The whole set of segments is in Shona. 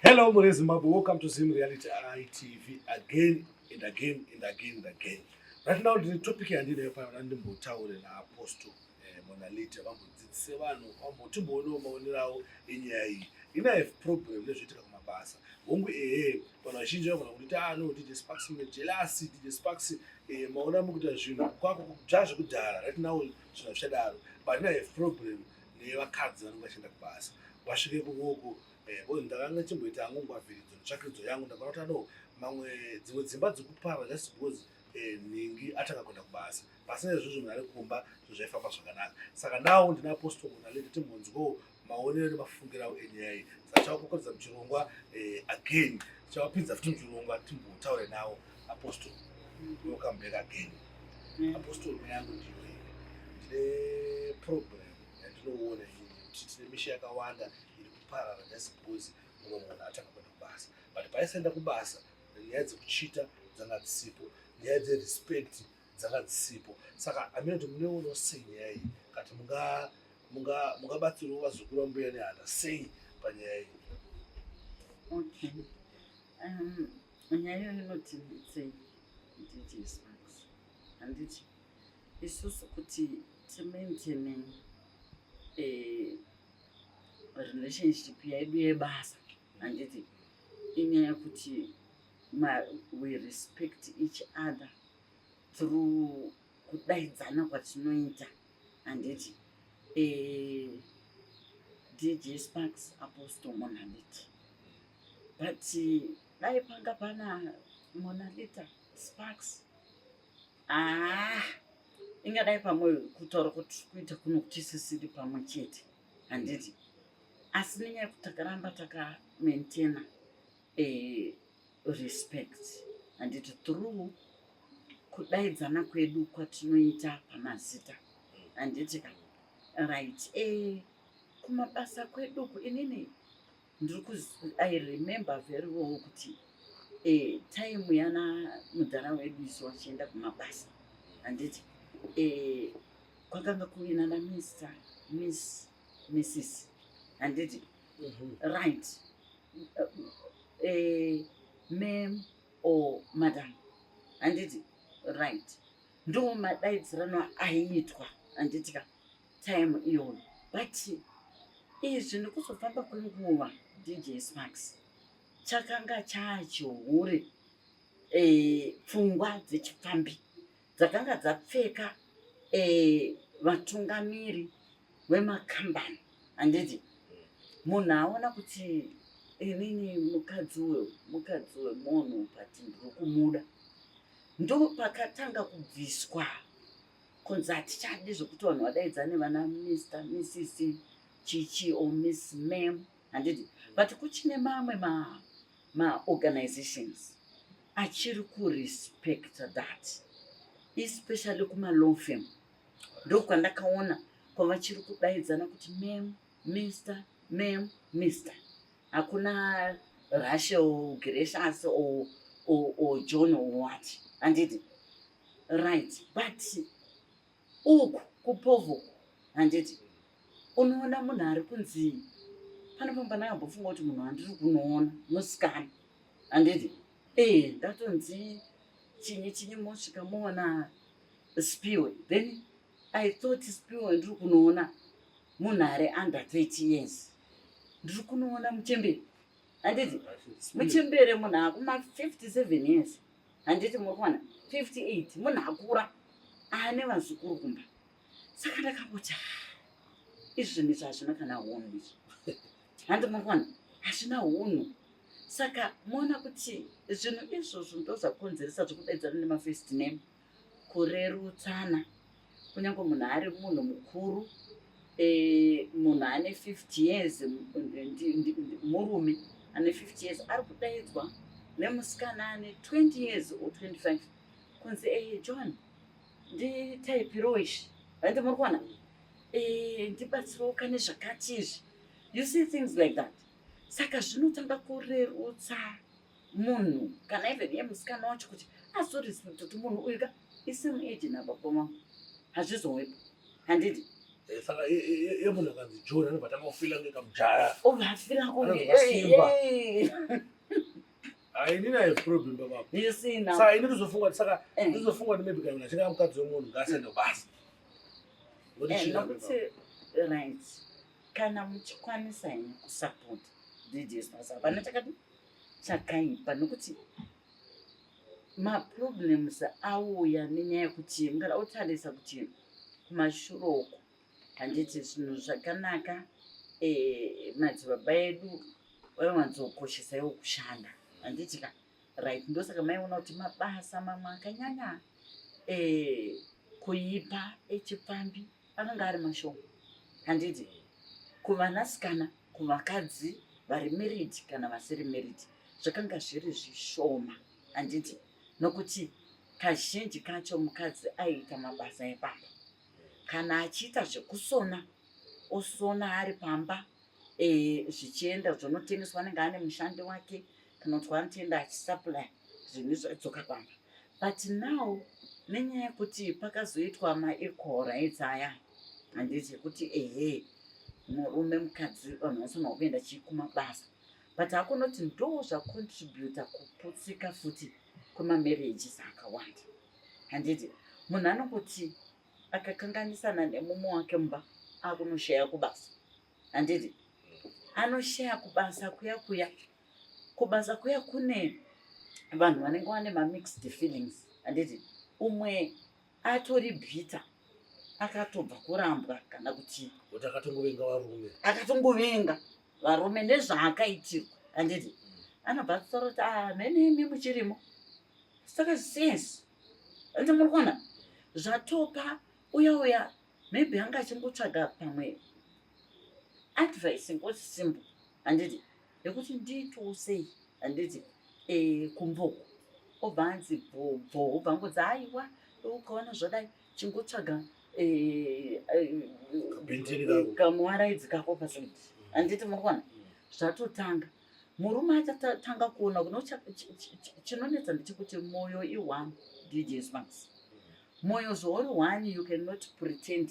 Hello, Mure Zimbabwe. Welcome to Zim Reality ITV again and again and again and again. Right now, the topic and the fire and the motel and our apostle eh, Monalita. I'm going to say, I'm going to go to Monero in Yai. In a problem, let's take my bass. Hongu ehe vanhu vazhinji vavona kuti taano dj sparks mujelasi dj sparks eh, maona mukuita zvinhu kwako kudzva zvekudhara right now zvinhu zvichadaro but in a problem nevakadzi vanenge vachienda kubasa vasvike kuoko eh, ozi ndakanga chimboita yangu ngwavhiridzo netsvakiridzo yangu ndakaona kuti ano mamwe dzimwe dzimba dzikuparwa just because eh, nhingi atanga kuenda kubasa pasina izvozvo munhu ari kumba zvinhu zvaifamba zvakanaka saka nawo ndinapostol munaleta timbonzwawo maonero nemafungira awo enyaya iyi saka chavakokoredza muchirongwa eh, again chavapinza futi muchirongwa timbotaure nawo apostol welcome back again apostol yangu ndiyo ndine problem yandinoona ini kuti tine misha yakawanda iri kuparara just because mumwe munhu atanga kuenda kubasa but paisaenda kubasa nyaya dzekuchita dzanga dzisipo nyaya dzerespect dzanga dzisipo saka amina kuti muneono sei nyaya iyi kati mungabatsiriwo vazukuru vambuya nehanda sei panyaya iyi okay um, nyaya iyo inoti sei dj sparks handiti isusu kuti timaintene eh, relationship yedu yebasa handiti inyaya yekuti we respect each other through kudaidzana kwatinoita handiti eh, dj sparks apostle munhu handiti but dai panga pana monalita sparks ah ingadai pamwe kutaura kuti kuita kuno kutisisiri pamwe chete handiti asi nenyaya yekuti takaramba takamaintaina eh, respect handiti through kudaidzana kwedu kwatinoita pamazita handiti ka right e kumabasa kweduku inini ndiri kuz i remember very well kuti eh, time yana mudhara wedu isu vachienda kumabasa handiti eh, kwakanga kuina na mister miss missis handiti mm -hmm. right eh, mam or madam handiti right ndo madaidzirano aiitwa handiti ka time iyoyo but izvi nekuzofamba kwenguva dj smax chakanga chachihure e, pfungwa dzechipfambi dzakanga dzapfeka e, vatungamiri vemakambani handiti munhu aona kuti inini mukadzi we mukadzi wemunhu but ndiri kumuda ndopakatanga kubviswa kunzi hatichadi zvekuti vanhu vadaidzane vana mr mrs chichi or miss mam handidi but kuchine mamwe maorganizations ma achiri kurespecta that especially kumalow fam ndokwandakaona kwavachiri kudaidzana kuti mam mr mam mr hakuna russia or gracious or, or, or john or what handidi right but uku kupovo handiti unoona munhu ari kunzi pane pamba ndakambopfunga kuti munhu andiri kunoona musikana handiti ee eh, ndatonzi chinyi chinyi mosvika moona spiwe then i thought spiwe ndiri kunoona munhu ari under 30 years ndiri kunoona muchembere handiti muchembere munhu akuma 57 years handiti muri kuwana 58 munhu akura ane vazukuru kumba saka ndakangoti izvi zvinhu izvi hazvina kana hunhu izvi handi muri kuwana hazvina hunhu saka moona kuti zvinhu izvozvo ndozvakonzeresa zvekudaidzana nemafirst name kurerutsana kunyange munhu ari munhu mukuru eh, munhu ane 50 years murume ane 50 years ari kudaidzwa nemusikana ane 20 years or 25 kunzi e eh, john nditaipirowo izvi handi muri kuona eh, ndibatsirawo kane zvakati izvi you see things like that saka zvinotanga kurerutsa munhu kana even ye musikana wacho kuti azorespect kuti munhu uyu ka isame age nababa mangu hazvizowepo handidi eh, saka yemunhu akanzi john anobva tanga kufila kunge kamujaya obva afila kunge hainina yeproblem babako saka ini ndizofunga kuti saka eh. ndizofunga kuti maybe kana achinga mukadzi wemunhu ngaasende kubasa nokuti eh, right kana muchikwanisa ine kusapota dds masaka pane chakati chakaipa nokuti maproblems auya nenyaya yekuti mugara otarisa kuti kumashuro uko handiti zvinhu zvakanaka eh, madzibaba edu vaiwanzokoshesa iwo kushanda handiti ka right ndosaka maiona kuti mabasa mamwe akanyanya eh, kuipa echipfambi eh, anenge ari mashoko handiti kuvanasikana kuvakadzi vari married kana vasiri married zvakanga zviri zvishoma handiti nokuti kazhinji kacho mukadzi aiita mabasa epamba kana achiita zvekusona osona ari pamba e, zvichienda zvonotengeswa anenge ane mushandi wake tinonzwa anotenda achisaply zvinhu zvadzoka pamba but now nenyaya yekuti pakazoitwa maequal rights aya handiti kuti ehe murume mukadzi vanhu vanofanirwa kuenda chii kumabasa but hakunoti ndo zvacontributa kuputsika futi kwemamarriages akawanda handiti munhu anongoti akakanganisana nemumwe wake mumba akunoshaya kubasa handiti anoshaya kubasa kuya kuya kubasa kuya kune vanhu vanenge vane mamixed feelings handiti umwe atori bhita akatobva kurambwa kana kuti kuti akatongovenga varume akatongovenga varume nezvaakaitirwa handiti anobva atora kuti ah, mhene imi muchirimo saka since ende muri kuona zvatopa uya uya maybe anga achingotsvaga pamwe advice ngozi simbo handiti yekuti ndiitoo sei handiti eh, kumboko obva anzi bhobho obva angodzi haiwa ukaona zvadai chingotsvaga eh, eh, kamuwaraidzi kako pasaidi handiti murikuona zvatotanga murume achatanga kuona kuno chinonetsa ndechekuti moyo ione dj smax moyo zvauri one you cannot pretend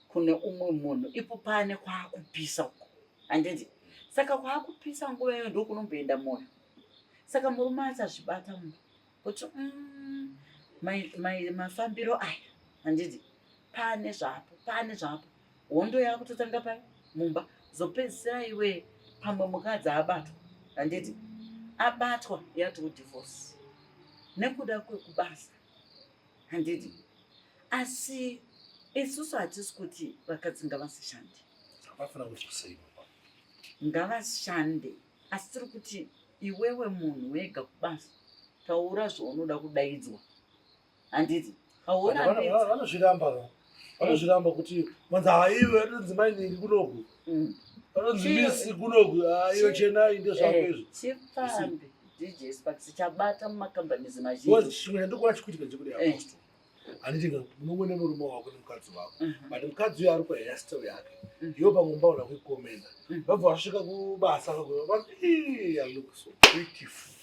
kune umwe munhu ipo pane kwaakupisa uko handiti saka kwaakupisa nguva iyo ndokunomboenda moyo saka murume achazvibata munhu kuti mm, mafambiro aya handiti pane zvapo pane zvapo hondo yakutotanga pai mumba zopedzisira iwe pamwe mukadzi abatwa handiti abatwa yati udivorce nekuda kwekubasa handiti asi isusu hatisi kuti vakadzi ngavasishande ngavashande asi tiri kuti iwewe munhu wega kubasa taura zvaunoda kudaidzwa handiti vanozviramba va vanozviramba kuti manzi haiwe anonzi mainingi kunoku mm. anonzi misi kunoku haiwe chenai ndezvako eh, izvi chipfambi dj sparks chabata mumacompanies mazhinji chimwe chandikuva chikuitika chekuti eh. apostle handiti munongo nemurume wako nemukadzi wako mhm. but mukadzi uyo ari kuhairstyle yake mhm. iyo pamwe mbaona kuikomenda mhm. vabva vasvika kubasa vakuva i look so beautiful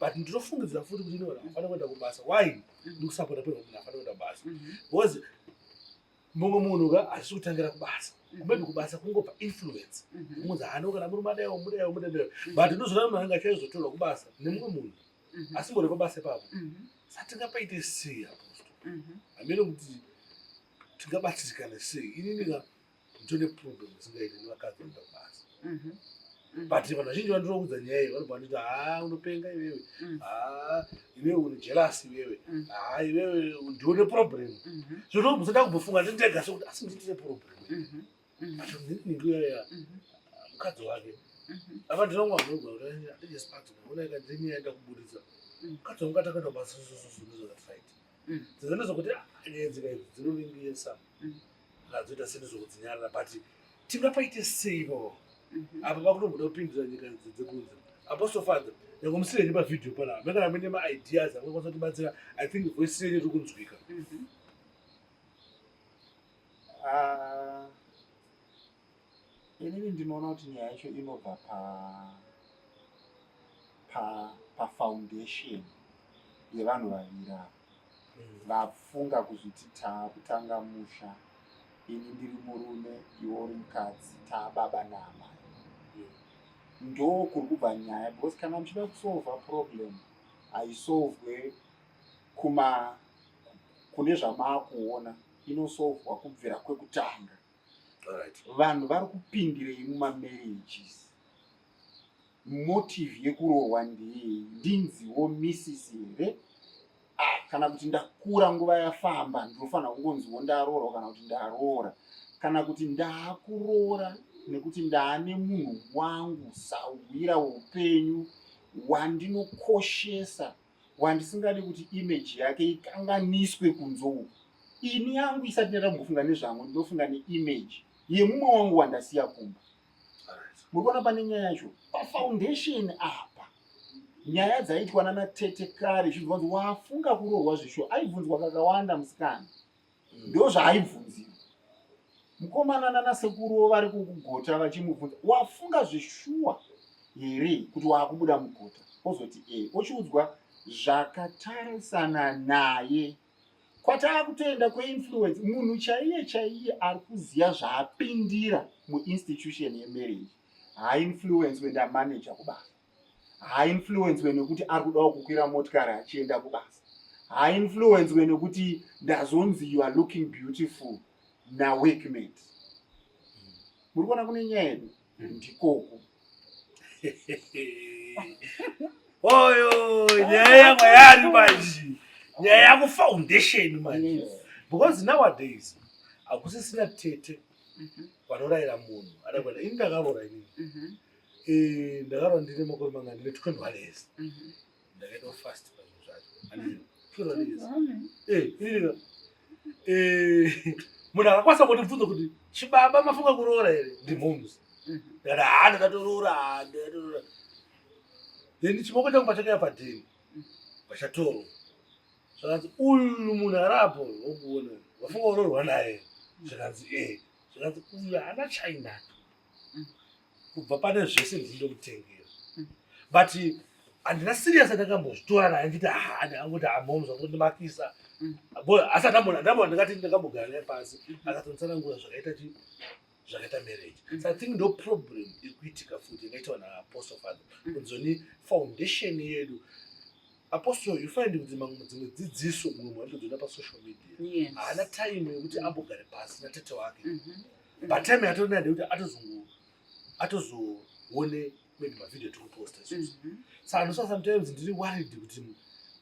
but ndinofungidzira futi kuti inona afana kuenda kubasa why ndikusapota peno kuti afana kuenda kubasa mhm. because mumwe munhu ka hazvisi kutangira kubasa mhm. maybe kubasa kungopa influence mhm. kumunzi hano kana muri madayo mudayo mudayo but ndozvona munhu anga chaizotorwa kubasa nemumwe munhu asi mbori pabasa ipapo satingapaite sei aposto hameno kuti tingabatsirikana sei inini ka ndine problem isingaite nevakadzi vanoda kubasa mhm. Mhm. but vanhu vazhinji vandinoudza nyaya iyi vanobva vanditi haa unopenga iwewe mhm. haa iwewe uri jelasi iwewe haa iwewe ndione problem zvotomusada kumbofunga ndindega sekuti asi nditine problem but ndinikuyoya mukadzi wake apa ndinonga ndinoga kuti andijesipati ona ikandiniyaenda kuburitsa mukadzi wangu atakatobasasososo ndizvakati right dzimwe ndezvokuti nyaya dzika idzi dzinovimbisa zvazoita seni zvokudzinyarira but tingapaite seivo apa vakutomboda kupindira nyika idzi dzekunze apostofadza nyakomusire henyu pavhidhiyo panapa mekana mune maideas akakwanisa kutibatsira i think voisi yenyu iri kunzwika inini ndinoona kuti nyaya yacho inobva pa pa pafoundation yevanhu vaviri ava mm. vafunga kuzviti taakutanga musha ini ndiri murume iwo uri mukadzi taababa naamai ndo kuri kubva nyaya because kana muchida kusolva problem haisolvwe kuma kune zvamaakuona inosolvwa kubvira kwekutanga vanhu vari kupindirei mumamarriages motive yekurohwa ndiyei ndinziwo missis here ah, kana kuti ndakura nguva yafamba ndinofanira kungonziwo ndaroorwa kana kuti ndaroora kana kuti ndaakuroora nekuti ndaane munhu wangu sahwira weupenyu wandinokoshesa wandisingadi kuti image yake ikanganiswe kunze uku ini yangu isati ndaita kumbofunga nezvangu ndinofunga neimage yemumwe wangu wandasiya kumba muri kuona pane nyaya yacho pafoundation apa nyaya dzaitwa nanatete kare zvinzwanzi wafunga kurohwa zvisho aibvunzwa kakawanda musikana ndozvaaibvunziwa mukomana nanasekuru vari kukugota vachimubvunza wafunga zveshuwa here kuti waakubuda mugota ozoti e ochiudzwa zvakatarisana naye kwataa kutoenda kweinfluence munhu chaiye chaiye ari kuziva zvaapindira muinstitution yemarriage haainfluence wenda manager kubasa haainfluencwe nekuti ari kudawo kukwira motikari achienda kubasa haainfluencwe nekuti ndazonzi you are looking beautiful naweekmate muri kuona kune nyaya yedu ndikoku oyo nyaya yamwe yari manje nyaya yakufoundation manje because nowadays hakusisina tete vanorayira munhu adakuenda ini ndakaroora inini mhm. Eh, ndakarwa ndine makore manga ndine 21 years mhm. ndakaita fast pazvinhu zvacho eh, eh, munhu akakwanisa kundibvunza kuti chibaba mafunga kuroora here ndimhoms ndikati mhm. haa ndakatoroora ndakatoroora then chimoko changu pachakaya padheni mhm. pachatorwa zvakanzi uyu munhu arapo wokuona wafunga uroorwa naye zvikanzi e zvikanzi uyu haana chainacho mm. kubva pane zvese ndinoda kutengera mm. but handina serious andakambozvitora naye nditi haa ndakangoti amom zvakundimakisa mm. asi andambona ndambona ndakati ndakambogara naye pasi akatonitsanangura zvakaita chi zvakaita marriage so i think ndo problem ikuitika futi ingaitawa naapostle father kunzoni foundation yedu apostle you find kuti mamwe dzimwe dzidziso mumwe mwandodzona pasocial media haana time yekuti ambogare pasi natete wake mhm. but time yatona ndekuti atozongo atozoone maybe mavideo tiri kuposta izvozvo mhm. so anosa sometimes ndiri worried kuti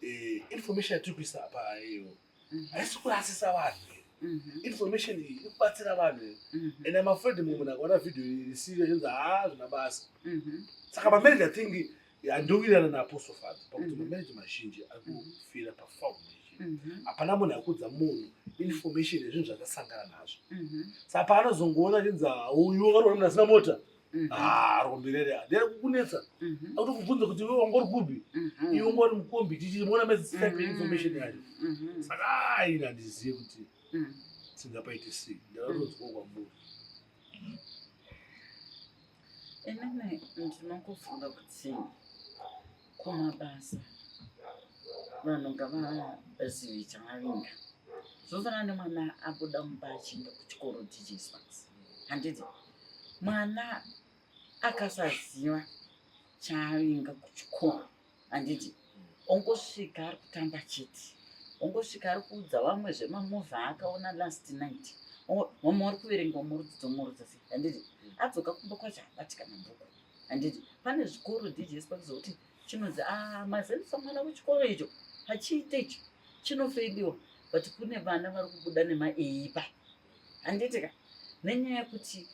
eh, information yatiri kuisa apa iyo mhm. haisi kurasisa vanhu mhm. information iyi iri kubatsira vanhu and I'm afraid mumwe munhu akaona video iyi risiyo zvinzi haa ah, zvina basa saka pamene ndathink Ndowirirana naApostle Father pakuti mm-hmm. mamarriage mazhinji akufira pafoundation Mm-hmm. hapana munhu akudza munhu information yezvinhu zvakasangana nazvo mm-hmm. sa paanozongoona chinzi uyu akaroora munhu asina mota mm-hmm. ah, rombirere ndere kukunetsa akuti kubvunza kuti iwe wangori kubi iwe ngori mukombi tichiona mezisipe information yacho saka aina ah, ndizive kuti mm. tingapaite sei ndakatonzwa kwamuri Inini ndinokufunga kuti kumabasa vanhu ngavazive chavavinga zvofanana nemwana abuda mumba achienda kuchikoro tichiiswa handiti mwana akasaziva chaavinga kuchikoro handiti ongosvika ari kutamba chete ongosvika ari kuudza vamwe zvemamovha aakaona last night mama ari kuverenga murudzo dzomurudzo se handiti adzoka kumba kwacho habatika mabhuku handiti pane zvikoro djs pakuzokuti chinonzi a ah, mazendisa mwana wechikoro icho hachiite icho chinofeidiwa but kune vana vari kubuda nemaeipa handiti ka nenyaya yekuti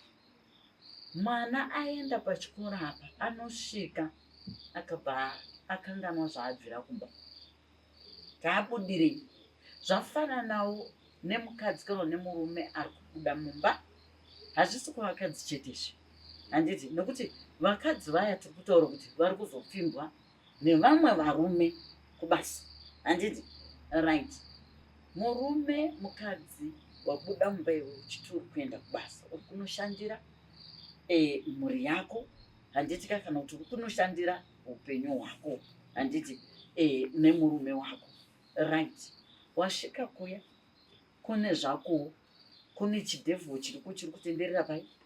mwana aenda pachikoro apa anosvika akabva akanganwa zvaabvira kumba taabudirei zvafananawo nemukadzi kana nemurume ari kubuda mumba hazvisi kuvakadzi chetezve handiti nokuti vakadzi vaya tiri kutaura kuti vari kuzopfimbwa nevamwe varume kubasa handiti right murume mukadzi wabuda mumba iwe uchiti uri kuenda kubasa uri kunoshandira e, mhuri yako handiti ka kana kuti uri kunoshandira upenyu hwako handiti e, nemurume wako right wasvika kuya kune zvakowo kune chidevho chiriko chiri kutenderera pai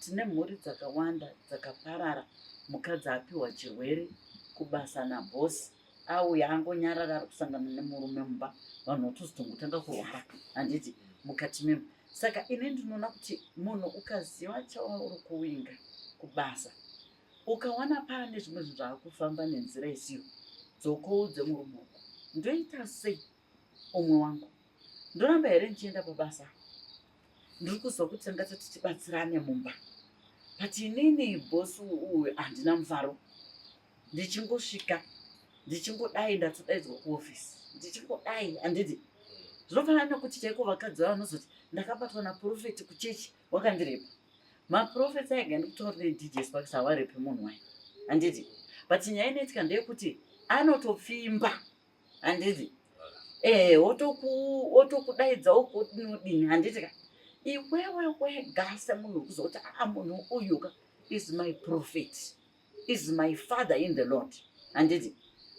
Tine mhuri dzakawanda dzakaparara mukadzi apiwa chirwere kubasa nabhosi auya angonyarara ari kusangana nemurume mumba vanhu vatozotonga kutanga kurwara handiti mukati memo saka ini ndinoona kuti munhu ukaziva chauri kuwinga kubasa ukawana paane zvimwe zvinhu zvaakufamba nenzira isiyo dzokoudze murume uku ndoita sei umwe wangu ndoramba here ndichienda pabasa ndiri kuzwa kuti tingati tichibatsirane mumba but inini bosi uyu handina mufaro ndichingosvika ndichingodai ndatodaidzwa kuofisi ndichingodai handidi zvinofanana nekuti chaiko vakadzi vavo vanozoti ndakabatwa naprofeti kuchechi wakandirepa maprofeti aiga ndikutori nedj sparks hawarepi munhu wayo handidi but nyaya inoitika ndeyekuti anotopfimba handiti eh wotoku wotokudaidza ukodinodini handiti ka iwewe wega semunhu wekuzoti aa ah, munhu uyu ka is my prophet is my father in the lord handiti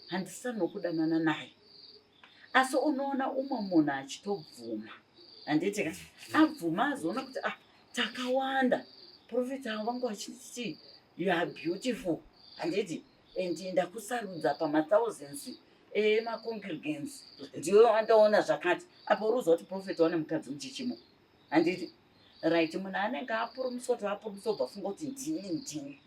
handisanokudanana naye asi unoona umwe munhu achitobvuma handiti ka abvuma azoona kuti ah takawanda profeti avo vanga vachiti you are beautiful handiti and ndakusarudza pamathousands emacongregants ndiwe wandaona zvakati apo uruziva kuti profet wane mukadzi muchichimo handiti right munhu anenge apurumiswa kuti apurumiswa ubva funga kuti ndini ndini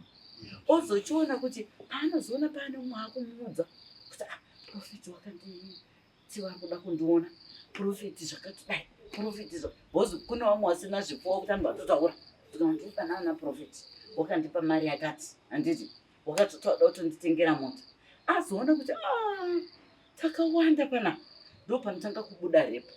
ozochiona kuti paanozoona paane umwe akumuudza kuti ah, profeti wakanditsiva kuda kundiona profeti zvakati dai profeti zvo bhozi kune vamwe vasina zvipowa kuti anhu vatotaura ndikandipanaana profeti wakandipa mari yakati handiti wakatotoda kutonditengera mota azoona kuti ah, takawanda pana ndo panotanga kubuda repo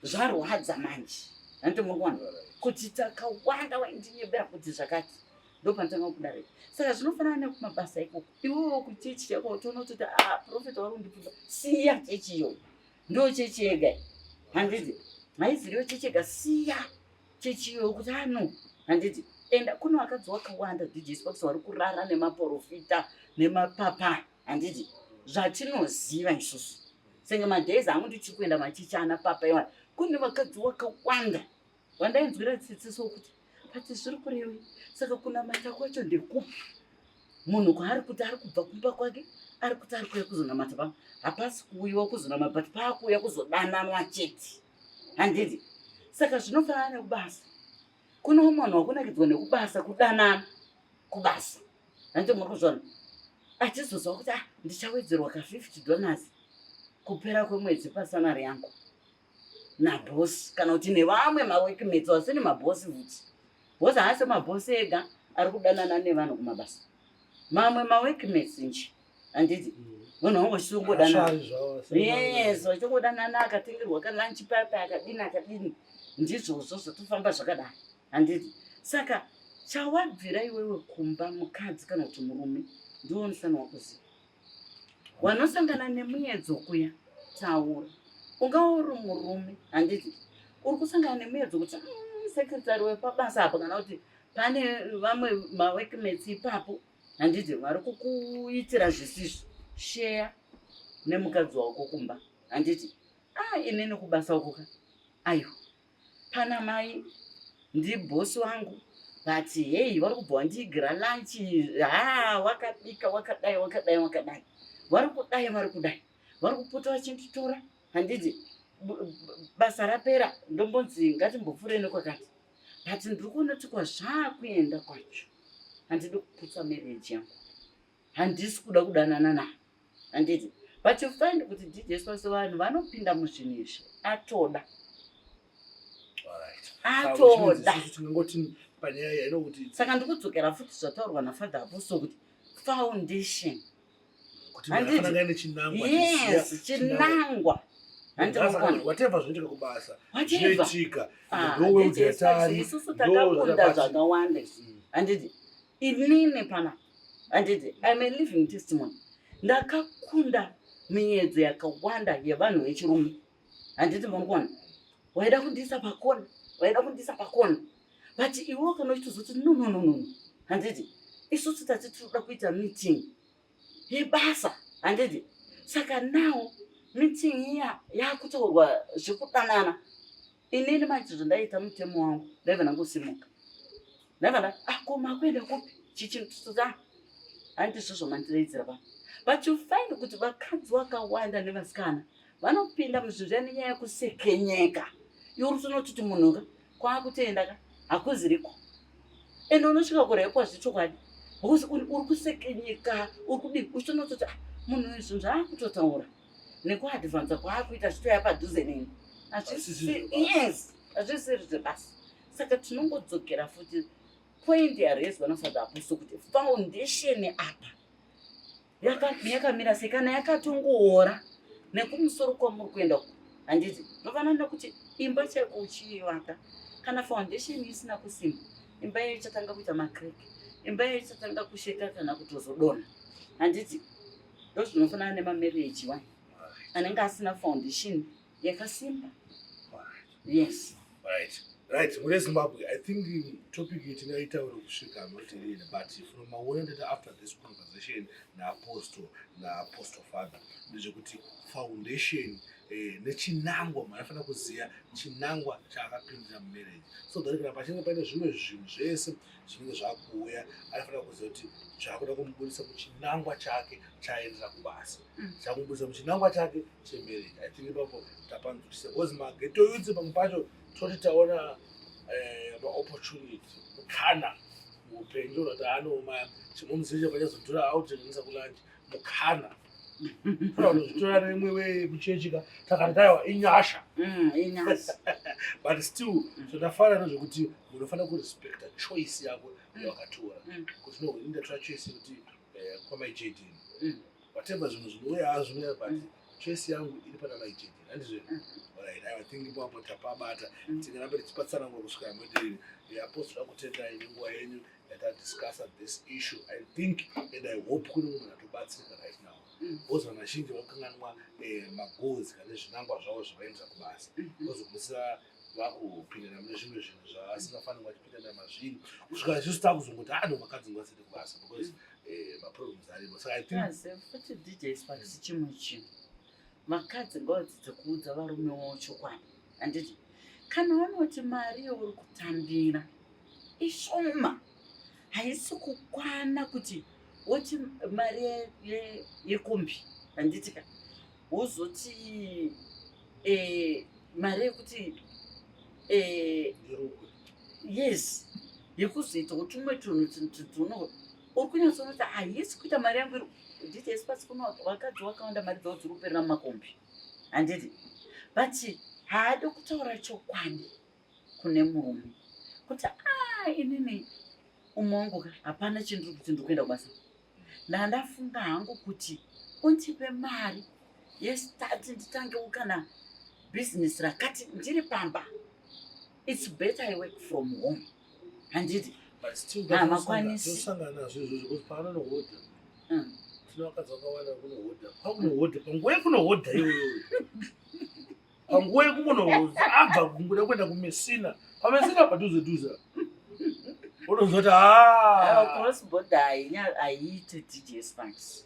zvarwadza manje hanti murikuona kuti takawanda waindinyebera kuti zvakati ndo panotanga kubuda repo saka zvinofanana nekumabasa ikoko iwewo kuchechi chako utoona kutoti ah, profeta wari kundipfuza siya chechi iyoyo ndo chechi yega handizi haizirewo chechi yega siya chechiyo kuti ano handiti enda kuno vakadzi wakawanda djs pakisa vari kurara nemaporofita nemapapa handiti zvatinoziva isusu senge madays angu ndichiri kuenda machichi ana papa iwana kune vakadzi wakawanda vandainzwira tsitsiso kuti pati zviri kurewi saka kunamata kwacho ndekupi munhu kwaari kuti ari kubva kumba kwake ari kuti ari kuuya kuzonamata pano hapasi kuuyiwa kuzonamata but paakuuya kuzodananwa chete handiti saka zvinofanana nekubasa kune umwe vanhu wakunakidzwa nekubasa kudanana kubasa hanti muri kuzvona achizozwa kuti ah ndichawedzerwa ka fifty dollars kupera kwemwedzi pasanari yangu nabhosi kana kuti nevamwe mawekimedzi vasini mabhosi futi bhosi haasi mabhosi ega ari kudanana nevanhu kumabasa mamwe mawekimedzi nje handiti munhu wangu uchingodanaayeso uchingodanana akatengerwa kalunch pape akadini akadini ndizvozvo zvotofamba zvakadai handiti saka chawabvira iwewe kumba mukadzi kana kuti murume ndiwo musana wakuziva wanosangana nemuyedzo kuya taura ungava uri murume handiti uri kusangana nemuyedzo kuti mm, sekretary wepabasa apo kana kuti pane vamwe mawekmets ipapo handiti vari kukuitira zvisizvo sheya nemukadzi wako kumba handiti a ah, inini kubasa ukuka aiwa pana mai ndibhosi wangu but hei vari kubva wandiigira lanchi ha wakabika wakadai wakadai wakadai vari kudai vari kudai vari kupota vachinditora handiti basa rapera ndombonzi ngatimbopfureni kwakati but ndiri kuona kuti kwazvaakuenda kwacho handidi kuputsa marriage yangu handisi kuda kudanana na handiti but you find kuti dds vose vanhu vanopinda muzvinhu izvi atoda atoda saka ndikudzokera futi zvataurwa nafather apostle kuti foundation chinangwa whatever zvinoitika kubasa zvinoitika ah, ndoweudzetariisusu takakunda zvakawanda handiti inini pana handiti im a living testimony ndakakunda miyedzo yakawanda yevanhu vechirume handiti murikuona waida kundiisa pakona waida kundiisa pakona but iwo kana uchitozoti nononono handiti isusu tati tinoda kuita meeting yebasa handiti saka now meeting iya yaakutaurwa zvekudanana inini maiti zvandaita mutemo wangu ndaiva ndangosimuka ndaiva nda akoma ah, kuenda kupi chichintuta ah, handiti zvozvo mandiraidzira pa but you find kuti vakadzi vakawanda nevasikana vanopinda muzvinhu zviya nenyaya yekusekenyeka iwe urutonotiti munhu ka kwaakutenda ka hakuziriko ende unosvika kure yekwazvi chokwadi because uri kusekenyeka uri kudii uchitonototi ah, munhu uyu zvinhu zvaakutotaura nekuadvansa kwaakuita zvitoya padhuze neni yes hazvisiri zvebasa saka tinongodzokera futi point yarezwa nafaza aposto kuti foundation apa yakamira sei kana yakatongoora nekumusoro kwamuri kuenda uko handiti ndovanana nekuti imba chaiko uchiivaka kana foundation isina kusimba imba iyo ichatanga kuita macrack imba iyo ichatanga kusheka kana kutozodona handiti ndozvinofanana nemamarriage wa anenge asina foundation yakasimba yes right right mune zimbabwe i think topic iyi tingaitaura kusvika not really but from maona ndati after this conversation naapostle naapostle father ndezvekuti foundation eh, nechinangwa munhu anofanira kuziva chinangwa chaakapindira mumarriage so that kana pachinenge paine zvimwe zvinhu zvese zvinenge zvakuuya anofanira kuziva kuti zvaakuda kumubudisa muchinangwa chake chaaendera kubasa chakumbudza muchinangwa chake chemarriage i think ipapo tapanzwisisa because mageto yutsi pamwe pacho toti taona eh, maopportunity mukana muupenyu unoti anoma chimwe muzivi chapachazodhura autengenisa kulanji mukana zvitora nemwe wekuchechika takati taiwa inyasha mm, but still zvindafanana mm. zvekuti munofanira kurespecta choice yako mm. yawakatora kuti no indatora choice yekuti eh, kwamai jadin whatever zvinhu zvinouya hazvinouya but mm. choice yangu iri pana mai chete handizvo mm. right i think ipapo tapabata mm. tingaramba tichipatsanangura kusvika mwederi apostora kutendai nenguva yenyu yatadiscussa this issue i think and i hope kune munhu atobatsirika right now bcause vanhu vazhinji vakukanganwa eh, magoals kana zvinangwa zvavo zvavaendesa kubasa bcause mm-hmm. kumusira vakupindana mune zvimwe zvinhu zvavasingafanirwa vachipindana mazviri kusvika isusu takuzongoti ano ah, vakadzi ngavasende kubasa because eh, maproblems arimo saka i think futi dj sparks chimwe chinhu vakadzi ngavadzidze kuudza varume wavo chokwadi handiti kana vanoti mari yauri kutambira ishoma haisi kukwana kuti woti mari yekombi handiti ka wozoti eh, mari yekuti eh, yes yekuzoita kutumwe tunhu tuno uri kunyatsonoti haisi kuita mari yangu iri handiti esi pasi kuno vakadzi vakawanda mari dzavo dziri kuperera mumakombi handiti but haadi kutaura chokwadi kune murume kuti ah, inini umwe wangu ka hapana chindiri kuti ndiri kuenda kubasa ndandafunga hangu kuti undipe mari yestati nditangewo kana bhizinesi rakati ndiri pamba its better i work from home handiti hamakwanisisangana zvezvo zvekuti paana nohodha mm. tinoakadza kwawanda kunohodha pakunohodha panguva yekunohodha iyoyoyo panguva yekukonowonza abva kunguda kuenda kumesina pamesina padhuze dhuze unozoti crossbord haiite djs max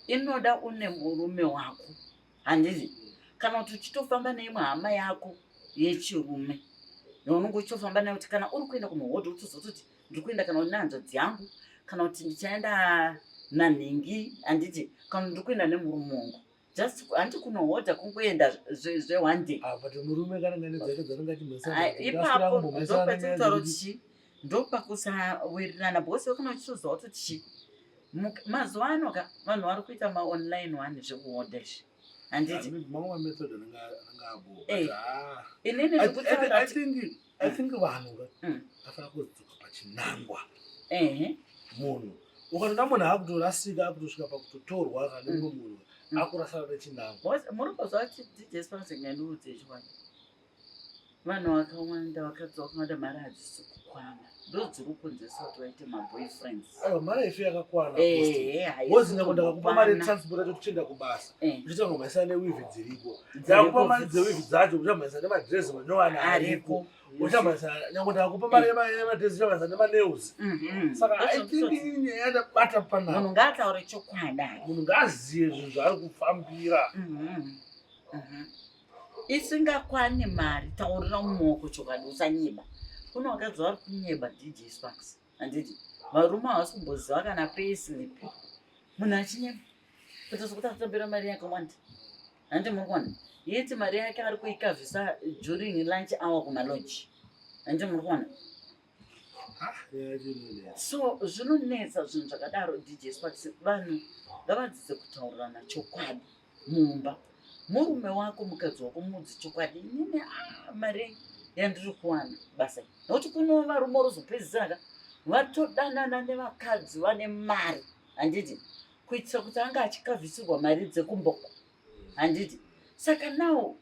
inoda une murume wako handizi kana kuti uchitofamba neimwe hama yako yechirume yaunenge uchitofamba nayo kuti kana uri kuenda kumuhodhi utozototi ndiri kuenda kana nehanzvadzi yangu kana kuti ndichaenda nanhingi handiti kana ndiri kuenda nemurume wangu just hanti kunohodha kungoenda zveone day ah, murume kana ngane dzake dzanenge achiipapo ndopatinotaura kuti chii ndopakusawirirana because wekana uchitoziva kuti chii mazuva ano ka vanhu vari kuita maonline one zvekuhodha izvi handiti ah, ah, inini I think vanhu vafana mm. kudzoka pachinangwa munhu ukanona munhu akutorasika akutosvika pakutotorwa kana mm. mumwe munhu mm. akurasana nechinangwa muri kuzva tijespanse ngandiudze chiwani vanhu vakawanda vakadzoka kungada mari hadzisi kukwana ndodziri kunzesa kuti vaite maboyfriends mari ife yakakwana wozinga kundakakupa mari transport atotichenda kubasa Eh. uchachamhanyisa newivi dziriko dzakupa mari dzewivi dzacho uchamhanyisa nemadress manyowani ariko uchamhanyisa nyange ndakupa mari yemadress uchamhanyisa nemanews mhm. saka nyaya ndabata panaa munhu ngaataure chokwada munhu ngaaziye zvinhu zvaari kufambira mhm. Mhm. isingakwane mari taurira mumaoko chokwadi usanyiba kune vakadzi vari kunyeba dj sparks handiti varume havasi kumboziva kana payslip munhu achinyeba Kuita sokuti atambira mari yakawanda. Handi muri kuona? Yeti mari yake ari kuikavhisa during lunch hour kumalodge. Handi muri kuona? so zvinonetsa zvinhu zvakadaro dj sparks vanhu ngavadzidze kutaurirana chokwadi mumba murume wako mukadzi wako mudzi chokwadi inini ah, mari yandiri kuwana basa nokuti kuno varume orozopedzisiraka vatodanana nevakadzi vane mari handiti kuitisa kuti anga achikavhisirwa mari dzekumboko handiti saka nawo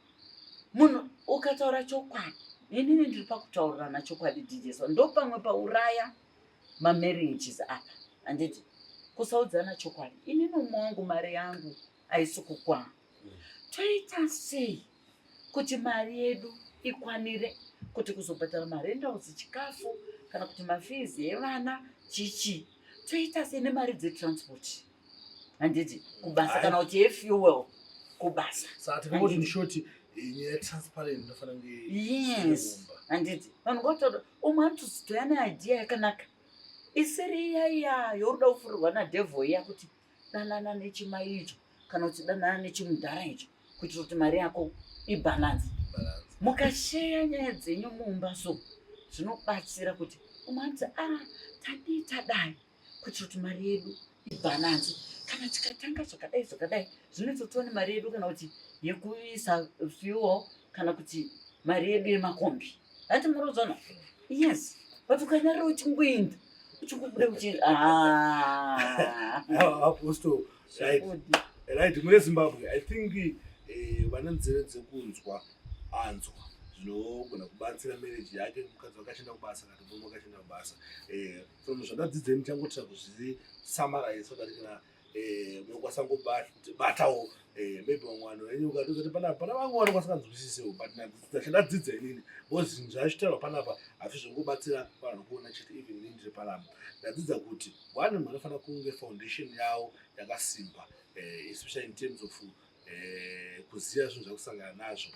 munhu ukataura chokwadi inini ndiri pakutaurirana chokwadi dijeso ndopamwe pauraya mamarriages apa handiti kusaudzana chokwadi inini umwe wangu mari yangu haisi kukwana toita sei kuti mari yedu ikwanire kuti kuzobhadhara marentals chikafu kana kuti mafizi evana chichi toita sei nemari dzetransport handiti kubasa kana kuti efuel kubasa yes handiti vanhu ngotoda umwe anotozitoya neidea yakanaka isiri iya iya yoruda kufurirwa nadevil iya kuti danana nechimai icho kana kuti danana nechimudhara icho kuitira kuti mari yako ibhalansi mukasheya nyaya dzenyu mumba so zvinobatsira kuti umanzi a ah, tadii tadai kuitira kuti mari yedu ibhalansi kana tikatanga zvakadai zvakadai zvinoita kuti one mari yedu kana kuti yekuisa fuel kana kuti mari yedu yemakombi Hati murudzano. Yes. But ukanyara uchingoenda uchikubuda uchiri ah. Apostle right. Right mune Zimbabwe I think eh, vana nzeve dzekunzwa anzwa zvinogona kubatsira marriage yake mukadzi wakashanda kubasa kana murume wakashanda kubasa eh, from zvandadzidza ndichangotira kuzvi summarize so that kana eh munokwasa ngobata batawo eh maybe mwana wenyu ukatozoti pana pana vangu wana kwasakanzwisisewo but na ndachada dzidza inini because zvashitawa pana pa afi zvingobatsira vanhu kuona chete even inini ndiri pana ndadzidza kuti one mwana fana kunge foundation yawo yakasimba eh especially in terms of eh, kuziva zvinhu zvakusangana nazvo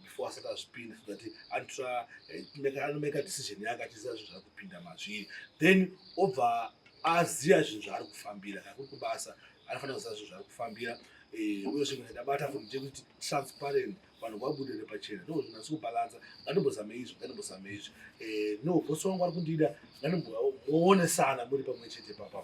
before asati azvipinda so that antra eh, anomeka decision yake achiziva zvinhu zvaakupinda mazviri then obva aziva zvinhu zvaari kufambira kana kuri kubasa anofanira kuziva zvinhu zvaari kufambira eh, uye zvinhu ndabata for ndekuti transparent vanhu vabudire pachena no zvinhu asi kubalanza ngatimbozame izvi ngatimbozame izvi no bosi wangu ari kundida ngatimboonesana muri pamwe chete papa